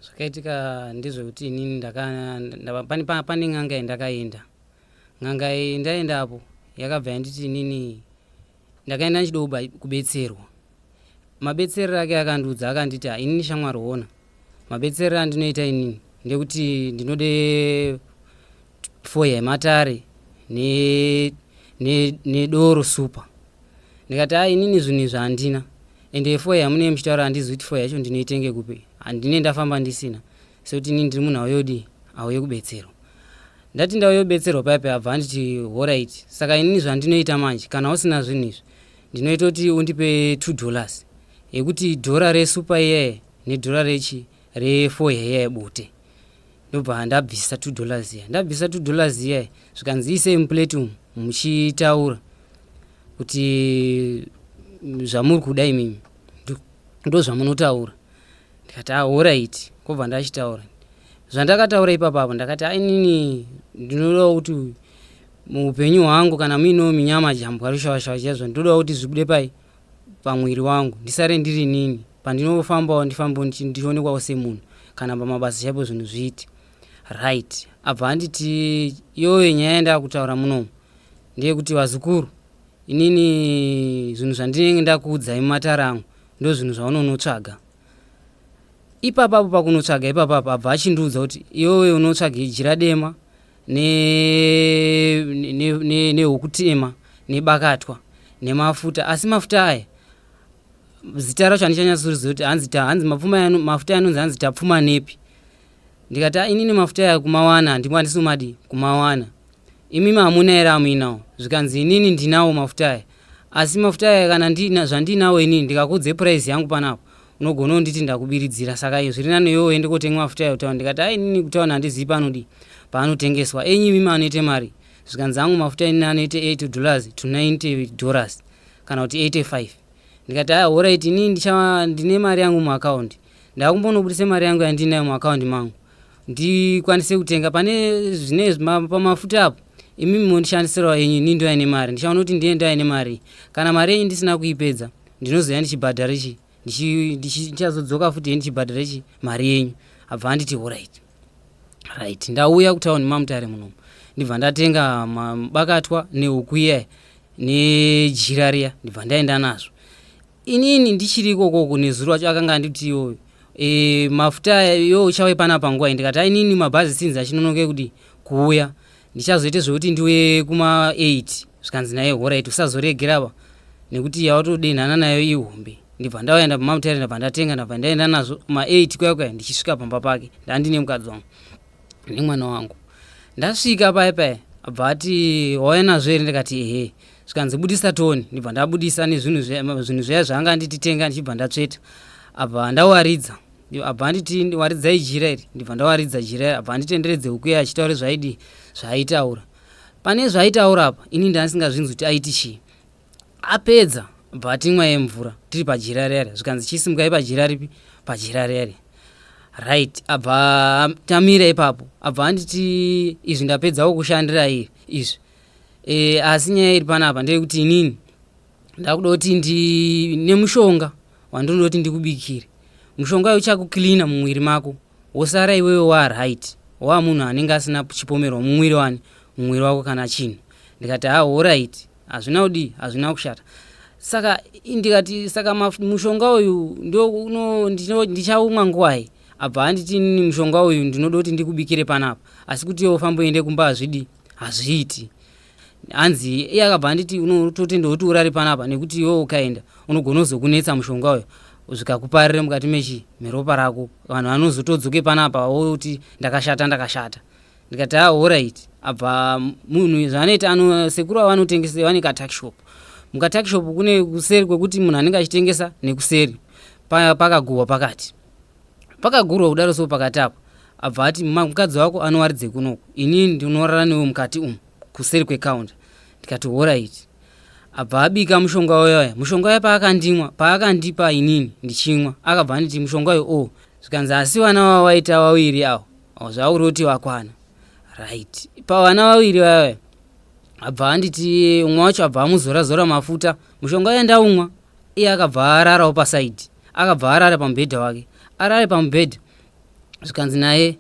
zvakaitika ndezvekuti inini pane n'anga yandakaenda n'anga ndaenda apo yakabva yanditi inini ndakaenda ndichida kubetserwa Mabetserero ake akandiudza akanditi inini shamwari hona mabetserero andinoita inini ndekuti ndinode fo yematare nedoro super ndikati a inini zvinhu izvi handina ende fo yamunee muchitaura handizi kuti fo yacho ndinoitenge kupi handine ndafamba ndisina sekuti inini ndiri munhu auyodii auye kubetserwa ndati ndauyobetserwa paipe abva anditi horaiti saka inini zvandinoita manje kana usina zvinhu izvi ndinoita kuti undipe 2 dollars yekuti dhora resupa iyaye nedhora rechi refo heya yebute ndobva ndabvisa 2 dollars iya ndabvisa 2 dollars iya zvikanzi ise muplate umu muchitaura kuti zvamuri kuda imimi ndozvamunotaura ndikati ah horaiti kobva ndachitaura zvandakataura ipapo apo ndakati ainini ndinodawo kuti muupenyu hwangu kana muinewo minyama jambwa rushawashawa chaizvo ndinodawo kuti zvibude pai pamwiri wangu ndisare ndiri nini pandinofambawo ndifambewo ndichionekwawo semunhu kana pamabasa chaipo zvinhu zviiti right abva anditi yoye nyaya yandakutaura munomu ndeyekuti vazukuru inini zvinhu zvandinenge ndakuudzai mumatara angu ndozvinhu zvaunonotsvaga ipapapo pakunotsvaga ipapapo abva achindiudza kuti iwewe unotsvaga ijira dema nehokutema ne, ne, ne nebakatwa nemafuta asi mafuta aya zita racho handichanyatsorizva kuti hanzi, hanzi mafuta yanonzi hanzi tapfuma nepi ndikati ah, inini mafuta aya kumawana handimo handisi kumadii kumawana imi hamuna here amuinawo zvikanzi inini ndinawo mafuta aya asi mafuta aya kana zvandiinawo inini ndikakudze puraisi yangu panapo unogona unditi ndakubiridzira saka iyo zviri nani iwe uende kotenga mafuta ayo kutaura ndikati ai inini kutaura handizii paanodii paanotengeswa enyi imi maanoite mari zvikanzi angu mafuta inini anoite 8 dollars to 90 dollars kana kuti 85 ndikati aya horaiti inini ndine mari yangu muakaundi ndakumbonobudisa mari yangu yandinayo muakaundi mangu ndikwanise kutenga pane zvine pamafuta apo imi mondishandisirawo yenyu ini ndoya nemari ndichaona kuti ndiye ndoya nemari kana mari yenyu ndisina kuipedza ndinozoya ndichibhadhara chi ndichazodzoka futi ye ndichibhadhara chi mari yenyu abva anditi orit right ndauya kutauni mamutare munomu ndibva ndatenga bakatwa neuku iya nejira riya ndibva ndaenda nazvo inini ndichiri ikoko uku nezuro wacho akanga anditi iwo e, mafuta yo uchawe pana panguva ndikati ainini mabhazi sinzi achinonoke kudi kuuya ndichazoite zvekuti ndiuye kuma 8 zvikanzi naye horaiti usazoregeraba nekuti yawatodenhana nayo ihombe ndibva ndauyanda pamamutare ndabva ndatenga ndabva ndaenda nazvo kuma 8 kuya kuya ndichisvika pamba pake ndandine mukadzi wangu nemwana wangu ndasvika paya paya abva ati wauya nazvo here ndikati ehe zvikanzi budisa toni ndibva ndabudisa nezvinhu zvinhu zviya zvaanga anditi tenga ndichibva ndatsveta abva ndawaridza abva anditi waridzai jira iri ndibva ndawaridza jira iri abva anditenderedze huku yaye achitaura zvaidi zvaaitaura pane zvaaitaura apa ini ndandisingazvinzi kuti aiti chii apedza abva atimwa yemvura tiri pajira rere zvikanzi chisimukai pajira ripi pajira rere right abva tamira ipapo abva anditi izvi ndapedzawo kushandira iri izvi e, asi nyaya iri panapa ndeyekuti inini ndakuda kuti ndi nemushonga wandinoda kuti ndikubikire mushonga uyu uchakuklina mumwiri mako wosara iwewe waaright waa munhu anenge asina chipomerwa mumwiri wani mumwiri wako kana chinhu ndikati ha horit hazvina kudii hazvina kushata saka ndikati saka mushonga uyu ndichaumwa nguwai abva anditi mushonga uyu ndinoda kuti ndikubikire panapa asi kuti iwe ufamboende kumba hazvidii hazviiti hanzi iye akabva anditi unototenda kuti urari panapa nekuti iwe ukaenda unogona kuzokunetsa mushonga uyo zvikakuparira mukati mechi meropa rako vanhu vanozotodzoke panapa woti ndakashata ndakashata ndikati a orit abva munhu zvaanoita ano sekuru ava vanotengesa vane katakshop mukatakshop kune kuseri kwekuti munhu anenge achitengesa nekuseri pakaguhwa pakati Pakagurwa kudaro so pakati apo abva ati mukadzi wako anowaridze kunoku ini ndinorara newe mukati umu kuseri kwecounter ndikati horaiti abva abika mushonga uyaya mushonga uya paakandimwa paakandipa inini ndichimwa akabva anditi mushonga uyo o oh. zvikanzi asi vana vawaita vaviri awo oh, zvauri kuti vakwana right pavana vaviri vayaya abva anditi umwe wacho abva amuzora zora mafuta mushonga uya ndaumwa Iye akabva ararawo paside. Akabva arara pamubhedha wake. Arare pamubhedha zvikanzi naye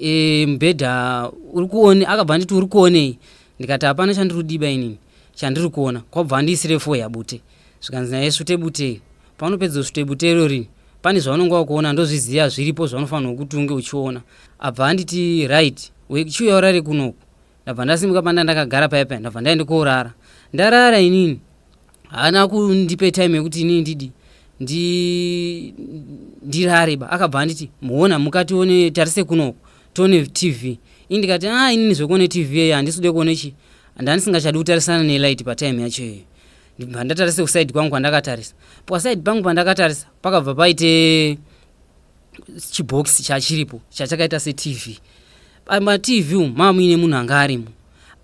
e, mubhedha uri kuone akabva anditi uri kuonei ndikati hapana chandiri kudiba inini chandiri kuona kwabva andiisire fo yabute zvikanzi naye svute butei paunopedza svute bute irori pane zvaunenge wakuona ndozviziva zviripo zvaunofanirwa kuti unge uchiona abva anditi right chiuya urare kunoku ndabva ndasimuka panda ndakagara paya paya ndabva ndaende koorara ndarara inini haana kundipe time yekuti inini ndidi ndirare ba akabva anditi muona mukatione tarise kunoko tione tv ini ndikati a ah, inini zvekuone tv yeyo handisi kude kuone chi ndandisingachadi kutarisana nelight patime yacho iyoyo ndibva ndatarise kusaidi kwangu kwandakatarisa pasaidi pangu pandakatarisa pakabva paite chibhokisi chachiripo chachakaita setv pamatv umu maa muine munhu anga arimo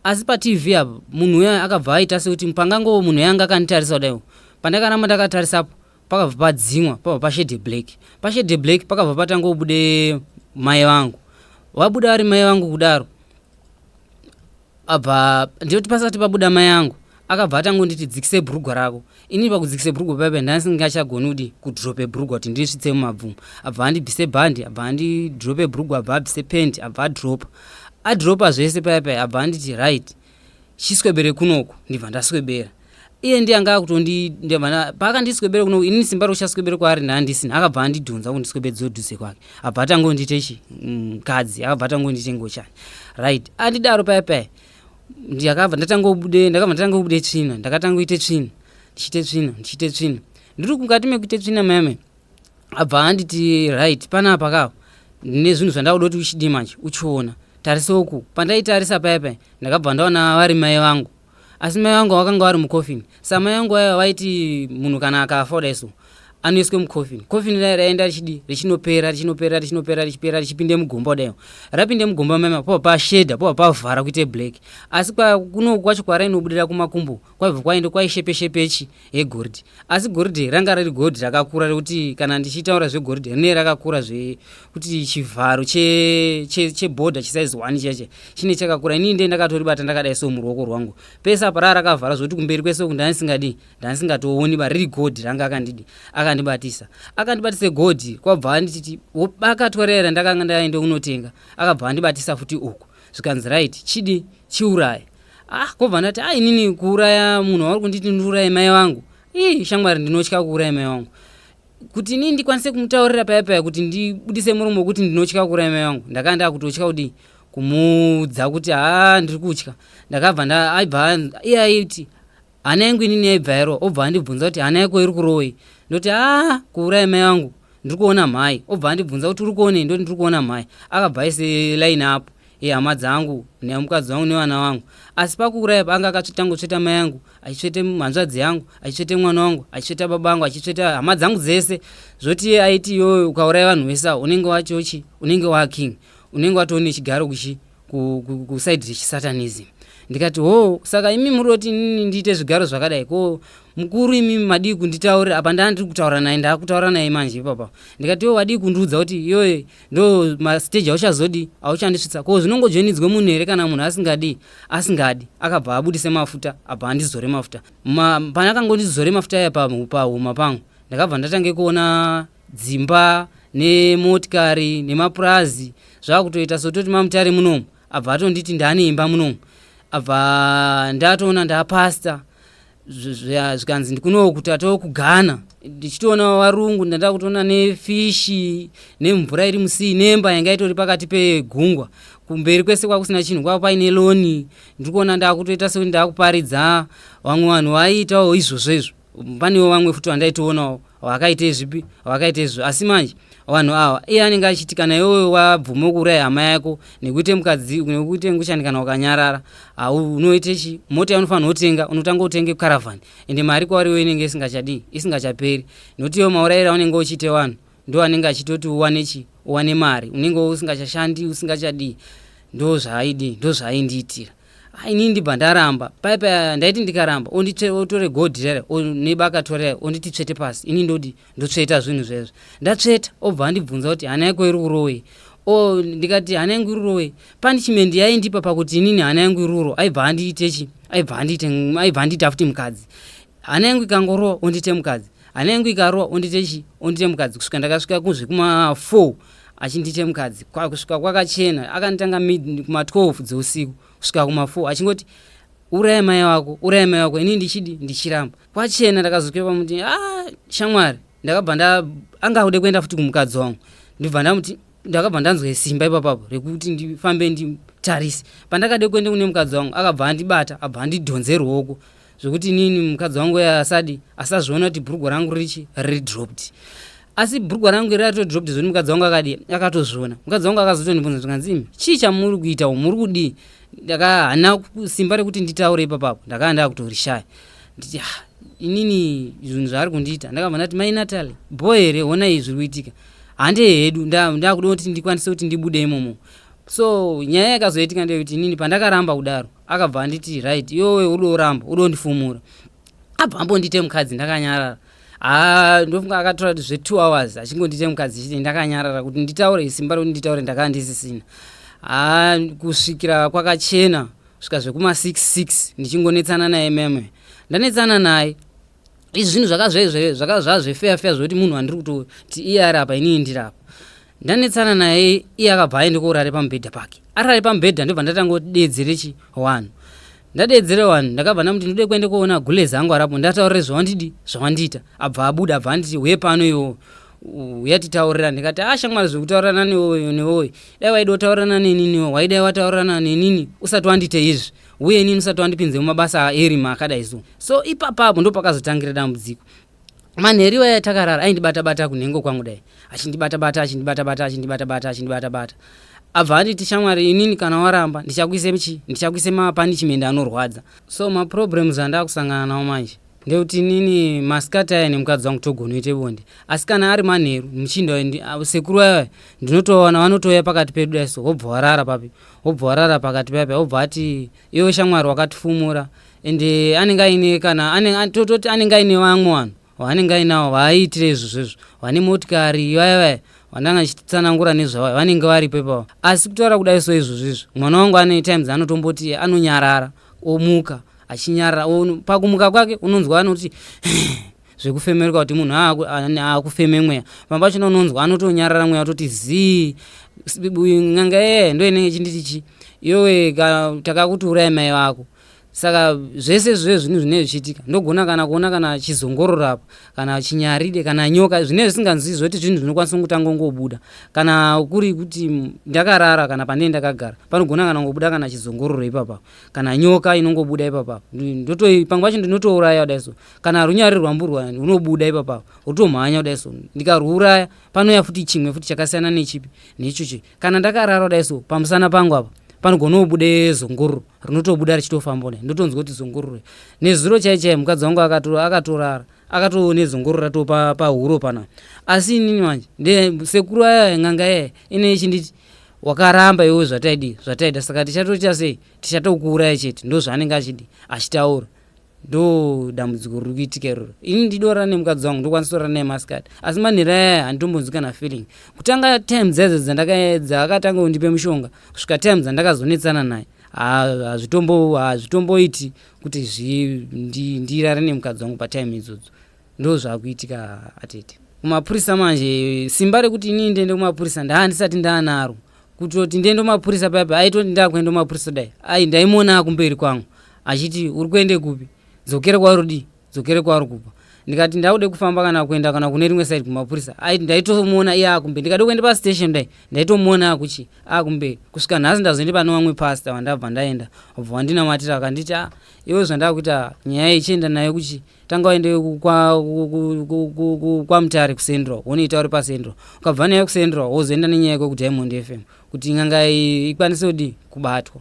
asi patv apa munhu uya akabva aita sekuti pangangovo munhu yanga akanditarisa kudaiwo pandakaramba ndakatarisapo pakabva padzimwa pabva pashede black pashede black pakabva patangobude mai vangu vabuda vari mai vangu kudaro apa ndiyoti pasati pabuda mai yangu akabva atangonditi dzikise bhurugwa rako inini pakudzikise bhurugwa paipa ndandisingachagoni kuti kudrope bhurugwa kuti ndirisvitse mumabvumo abva andibvise bhandi abva andidrope bhurugwa abva abvise pendi abva adropa adropa zvese paipai abva anditi right chiswebere kunoko ndibva ndaswebera iye ndiye anga akutondindevana paakandiswebere kuno inini simba rokuchaswebere kwaari naandisina akabva andidhonza kundiswebedza odhuze kwake abva atangondite chi mkadzi mm, akabva atangondite ngochani right andidaro paya paya ndakabva ndatangobude ndakabva ndatangobude tsvina ndakatangoite tsvina ndichiite tsvina ndichiite tsvina ndiri mukati mekuite tsvina mame abva anditi right panapa kavo ndine zvinhu zvandakuda kuti uchidii manje uchiona tarisoku pandaitarisa paya paya ndakabva ndaona vari mai vangu asi mai vangu vakanga vari mucoffin samai vangu vaiva vaiti munhu kana akafa kudai so anoiswe mucoffin coffin rai raienda richidi richinopera richinopera richinopera richipera richipinde mugomba kudai rapinde mugomba mama poa pashedha poa pavhara kuite black asi kuno kwacho kwarainobudira kumakumbo kwaibva kwaende kwaishepeshepechi yegoridhe asi goridhe ranga riri goridhe rakakura rekuti kana ndichitaura zvegoridhe rine rakakura zvekuti chivharo chebhodha che, che chisaizi one cheche chine chakakura inii ndee ndakatoribata ndakadai so muruoko rwangu pese apa raa rakavhara zvekuti kumberi kwese uku ndanisingadi ndanisingatooni ba riri goridhe ranga akandidi akandibatisa akandibatisa goridhe kwabva andititi wobakatwa rera ndakanga ndaende kunotenga akabva andibatisa futi uku zvikanzi right chidi chiuraya ah kobva ndati ah inini kuuraya munhu wauri kunditi ndiuraye mai vangu ii shamwari ndinotya kuuraya mai vangu kuti inini ndikwanise kumutaurira paya paya kuti ndibudise muromo wekuti ndinotya kuuraya mai vangu ndakanga ndakutotya kudii kumuudza kuti haa ndiri kutya ndakabva aibva iye aiti Hana yangu inini yaibva yarova obva andibvunza kuti hana yako iri kurovei ndoti aa kuuraya mai vangu ndiri kuona mhai obva andibvunza kuti uri kuonei ndoti ndiri kuona mhai akabva aise line apo yehama dzangu nemukadzi wangu nevana vangu asi pakuuraya paanga akatangotsveta mai yangu achitsvete hanzvadzi yangu achitsvete mwana wangu achitsveta baba vangu achitsveta hama dzangu dzese zvoti iye aiti iyoyo ukauraya vanhu vese avo unenge wachochi unenge waking unenge watoone chigaro kuchi kusaidi rechisatanism ndikati hoo saka imi muri oti inini ndiite zvigaro zvakadai ko mukuru imi madii kunditaurira apa ndaa ndiri kutaura naye ndaakutaura naye manje ipapa ndikati iwe wadii kundiudza kuti iyoye ndo masteji auchazodii auchandisvitsa ko zvinongojoinidzwe munhu here kana munhu asingadii asingadi akabva abudise mafuta abva andizore mafuta Ma, pane akangondizore mafuta aya pahuma pangu ndakabva ndatange kuona dzimba nemotikari nemapurazi zvakutoita sototi mamutare munomu abva atonditi ndane imba munomu abva ndatoona ndapasta zvikanzi ndikuno kuti atoo kugana ndichitoona varungu ndandaa kutoona nefishi nemvura iri musii nemba yanga itori pakati pegungwa kumberi kwese kwakusina chinhu kwava paine loni ndiri kuona ndaakutoita sekuti ndaakuparidza vamwe vanhu vaiitawo izvozvo izvo panewo vamwe futi vandaitoonawo wakaite zvipi wakaite zvi asi manje vanhu awa iye anenge achiti kana iwewe wabvuma kuuraya hama yako nekuite mukadzi nekuite nguchani kana ukanyarara unoite chi mota yaunofanira kutenga unotanga utenge caravani ende mari kwauri iwe inenge isingachadii isingachaperi nokuti iwe maurayiro aunenge uchiite vanhu ndo anenge achitoti uwane chi uwane mari unenge usingachashandi usingachadii ndo zvaaidii ndo zvaaindiitira ini ndibva ndaramba pai pa ndaiti ndikaramba otore godhi rere neba akatorera onditi tsvete pasi ini ndodi ndotsveta zvinhu zvezvo ndatsveta obva andibvunza kuti hana yako iri kurowe o ndikati hana yangu irurowe punishment yaindipa pakuti inini hana yangu iruro aibva andiite chi aibva andiite aibva andiita futi mukadzi hana yangu ikangorowa ondiite mukadzi hana yangu ikarowa ondiite chi ondiite mukadzi kusvika ndakasvika kuzvekuma four achinditi chemukadzi kusvika kwakachena akanditanga kuma12 dzeusiku kusvika kuma4 achingoti uraya mai wako uraya mai wako ini ndichidi ndichiramba kwachena ndakazotya pamuti a ah, shamwari ndakabva nda anga akude kuenda futi kumukadzi wangu ndibva ndamuti ndakabva ndanzwa simba ipapapo rekuti ndifambe nditarise pandakade kuenda kune mukadzi wangu akabva andibata abva andidhonze ruoko zvekuti inini mukadzi wangu asadi asazviona kuti bhurugwa rangu richi ridropped asi bhurugwa rangu iri ratodropped zvoni mukadzi wangu akadi akatozviona mukadzi wangu akazotondibvunza zvikanzii chii chamuri kuita u muri kudii ndakahana simba rekuti nditaure ipapapo ndakava ndakutorishaya nditi ha ah, inini zvinhu zvaari kundiita ndakabva ndati mai natali bho here honai zviri kuitika hande hedu ndakuda kuti ndikwanise kuti ndibude imomo so nyaya yakazoitika ndeyekuti inini pandakaramba kudaro akabva anditi right iwewe udo uramba udo ndifumura abva ambondite mukadzi ndakanyarara haa ndofunga akatora zve two hours achingondite mukadzi chiti ndakanyarara kuti nditaure isimba rekuti nditaure ndakaa ndisisina haa kusvikira kwakachena svika zvekuma 66 ndichingonetsana naye meme ndanetsana naye izvi zvinhu zvakazvezve zvakazvazvefeya feya zvekuti munhu andiri kutoti iye ari apa inini ndiri apa ndanetsana naye iye akabva aende kourare pamubhedha pake arare pamubhedha ndobva ndatanga kuti deedzere chi one ndadeedzere one ndakabva ndamuti ndode kuende koona gulezi angu arapo ndataurire zvawandidi zvawandiita abva abuda abva anditi huye pano iwowo uyatitaurira ndikati a shamwari zvekutaurirana newoyo newoyo dai waida kutaurirana neniniwo waidai wataurirana nenini usati wandite izvi uye inini usati wandipinze mumabasa aerima akadai so so ipapapo ndopakazotangira dambudziko manheri iwaya takarara aindibata bata kunhengo kwangu dai achindibata bata achindibata bata achindibata bata achindibata bata abva anditi shamwari inini kana waramba ndichakuise chi ndichakuise mapanishment anorwadza so maproblems andakusangana nawo manje ndekuti inini masikati aya nemukadzi wangu togonoite bonde asi kana ari manheru muchinda sekuru vaya ndinotoona vanotouya pakati pedu dai so wobva warara papi wobva warara pakati paya paya wobva ati iwe shamwari wakatifumura and eh, anenge aine kana tototi anenge aine vamwe vanhu vanenge ainawo vaaiitire izvo zvezvo vane motikari ivaya vaya vandanga achitsanangura nezvavayo vanenge varipo ipavo asi kutaura kudai so izvo zvezvo mwana wangu ane times anotomboti anonyarara omuka achinyarara pakumuka kwake unonzwa anoti zvekufemeruka kuti munhu aakufeme mweya pamba pachona unonzwa anotonyarara mweya atoti zii n'anga yeye ndo inenge chinditi chi iyowe takakuti urai mai vako saka zvese zve zvinhu zvinee zvichiitika ndogona kana kuona kana chizongororo apa kana chinyaride kana nyoka zvinee zvisinganzii zvoti zvinhu zvinokwanisa kutanga ngobuda kana kuri kuti ndakarara kana panee ndakagara panogona kana ngobuda kana chizongororo ipapa kana nyoka inongobuda ipapa ndotoi pamwe pacho ndinotouraya kudai so kana runyari rwamburwa runobuda ipapa wotomhanya kudai so ndikarwuraya panouya futi chimwe futi chakasiyana nechipi nechochi kana ndakarara kudai so pamusana pangu apa panogona kubude zungururu rinotobuda richitofamba ne ndotonzwa kuti zungururu nezuro chai chai mukadzi wangu akatorara akatoo nezungururu ratoo pahuro pa pana asi inini manje ndesekuru aya ng'anga yaya ine ichinditi wakaramba iwe zvataidi zvataida saka tichatoita sei tichatokuuraya chete ndozvaanenge achidi achitaura ndo dambudziko riri kuitika iroro ini ndidora nemukadzi wangu ndokwanisa kutora naye maskad asi manhira yaya handitombonzwi kana feeling kutanga time dzedzo dzakatanga kundipe mushonga kusvika time dzandakazonetsana naye hazvitomboiti kuti ndirare nemukadzi wangu patime idzodzo ndo zvakuitika atete kumapurisa manje simba rekuti ini ndiende kumapurisa ndaa ndisati ndaanaro kutoti ndiende kumapurisa paipa aitoti ndakuenda kumapurisa dai ai ndaimuona akumberi kwangu achiti uri kuende kupi dzokere kwauri udii dzokere kwauri kubva ndikati ndakude kufamba kana kuenda kana kune rimwe side kumapurisa aiti ndaitomuona iye akumbe ndikade kuenda pastation dai ndaitomuona akuchi akumbe kusvika nhasi ndazoende pane vamwe pasta vandabva ndaenda obva wandinamatira akanditi a ah, iwe zvandakuita nyaya ichienda nayo kuchi tanga waende kwamutare kucentral wonoita uri pacentral ukabva nayo kucentral wozoenda nenyaya yekwe kudiamond fm kuti n'anga ikwanise kudii kubatwa